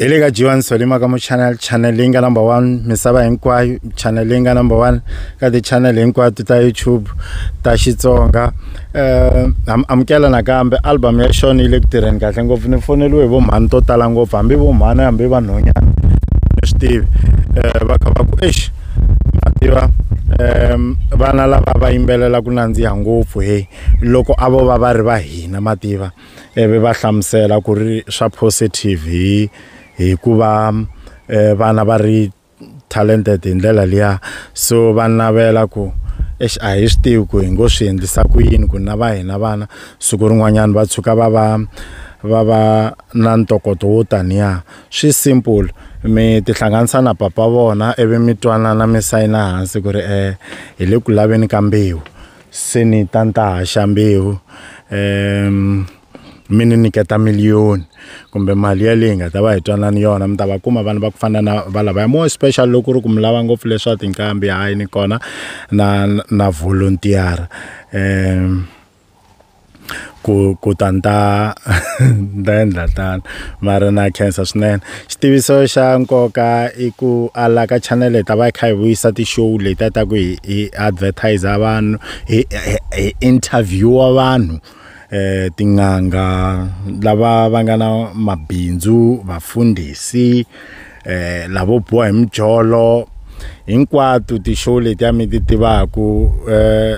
hi le ka jiwani solima ka muchannel channel leyi nga number one misava hinkwayo channel leyi nga number one ka ti-channel hinkwato ta youtube ta xitsonga um amukela nakambe album ya xona yi le ku tirheni kahle ngopfu ni foneliwe hi vomhani to tala ngopfu hambi vomhani hambi vanhonyana ni swi tivi um va kha va ku exi ma tiva um vana lava va yimbelela ku nandziha ngopfu he loko a vo va va ri va hina ma tiva ivi va hlamusela ku ri swa positive hi hi ku va um vana va ri talented hi ndlela liya so va navela ku exi a hi swi tivi ku hi ngo swi endlisa ku yini ku na va hina vana siku rin'wanyana va tshuka va va va va na ntokoto wo taniya. swi simple mi tihlanganisa na papa vona ivi mi twanana mi sayina hansi ku ri um hi le ku laveni ka mbewu se ni ta ni ta haxa mbewu um mi ni nyiketa miliyoni kumbe mali yaleyi nga ta va hi twanani yona mi ta va kuma vanhu va ku fana na va lavaya more special loko ku ri ku mi lava ngopfu leswa tinqambi hayi ni kona na na volunteer-a um ku ku ta ni ta ni ta endla tano mara na khensa swinene xitiviso xa nkoka i ku a la ka channel hi ta va hi kha hi vuyisa ti-show leti a ta ku hi hi advertiser vanhu hi hi interviewer vanhu eh tin'anga lava va nga na mabindzu vafundhisi. eh lavo boha hi mijolo hinkwato ti-show leti a mi ti tivaku eh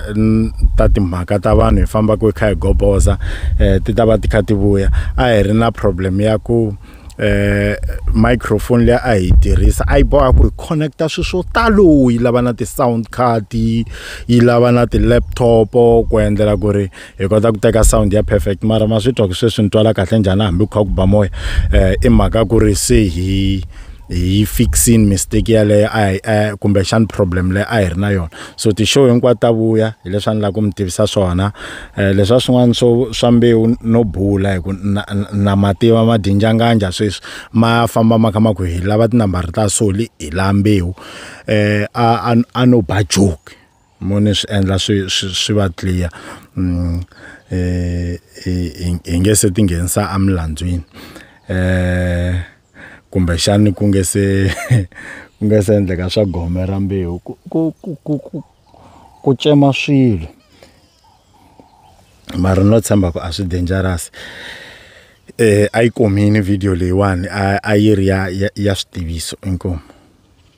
ta timhaka ta vanhu hi fambaka hi kha hi goboza eh ti ta va ti kha ti vuya a hi ri na problem ya ku eh microphone leyi a yi tirhisa a yi boha ku hi connecta swilo swo talo yi lava na ti-sound card yi lava na ti-laptop ku endlela ku ri hi kota ku teka sound ya perfect mara ma swi twa ku sweswi ni twala kahle njhani hambi ku kha ku ba moya um i mhaka ku ri se hi hi fixini mistake yaleyo a hi eh, kumbexani problem leyi a hi ri na yona so ti-show hinkwato ta vuya hi leswi a ni lava ku mi tivisa swona um leswa swin'wana swo swa mbewu no bula hi ku na, na mativa madinjanganja sweswi ma famba ma kha ma ku hi lava tinambara ta soli hi la mbewu um a, a, a no ba joke mo ni swi endla swi swi swi va clear mm, eh, hi nge se tinghenisa emilandzwini eh kumbe xani ku nge se ku nge se endleka swa gome ra mbewu ku ku ku ku ku cema swilo mara no tshemba ku a swi dangerous eh a yi komini video leyiwani a yi ri ya ya switiviso inkomu